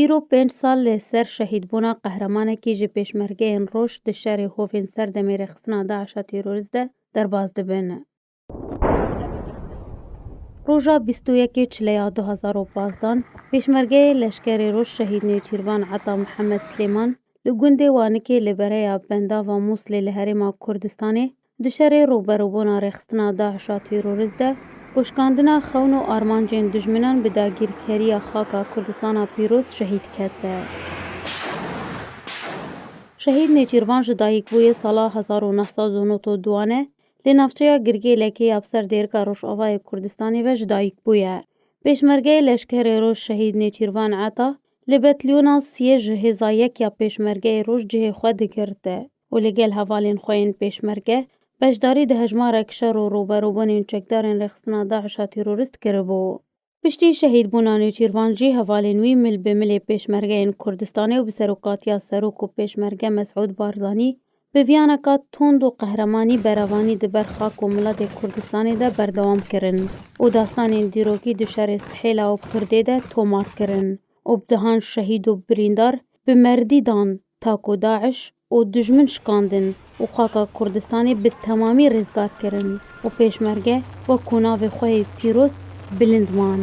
Îro pênc sal li ser şehîdbûna qehremanekî ji pêşmergeyên roj di şerê hovên ser demê rêxistina DAIŞ'a terorîst de derbas dibin. Roja bîst û yekê çileya du hezar û pazdeh pêşmergeyê leşkerê roj şehîd Nêçîrvan Ata Mihemed Silêman li gundê Wanikê li bereya Bendava Mûslê li Herêma Kurdistanê Di şerê rûberûbûna rêxistina DAIŞ a têrorist de, goşkandina xewn û armancên dijminan bi dagîrkeriya xaka Kurdistana pîroz şehîd kete. Şehîd Nêçîrvan ji dayîkbûyê sala hezar û neh sed û nod û duan e, lê navçeya Girgêlekê ya bi ser dêrika Rojavayê Kurdistanê ve ji dayîk bûye. Pêşmergeyê Leşkerê Roj Şehîd Nêçîrvan Ata li betliyona siyê ji hêza yek ya Pêşmergeyê Roj cihê xwe digirte. û li gel hevalên xwe yên pêşmerge beşdarî di hejmarek şer û rûberûbûnên çekdarên rêxistina DAIŞ'a tîrorîst kiribû. Piştî şehîdbûna Nêçîrvan jî hevalên wî mil bi milê pêşmergeyên Kurdistanê û bi serokatiya serok û pêşmerge Mesûd Barzanî bi viyaneka tund û qehremanî berevanî di ber xak û miletê Kurdistanê de berdewam kirin û dastanên dîrokî di şerê Sihêla û Pirdê de tomar kirin û bdehan şehîd û birîndar bi merdî dan Ta ku DAIŞ û dijmin şikandin û xaka Kurdistanê bi temamî rêzgar kirin û pêşmerge wek ku navê xwe yê pîroz bilind man.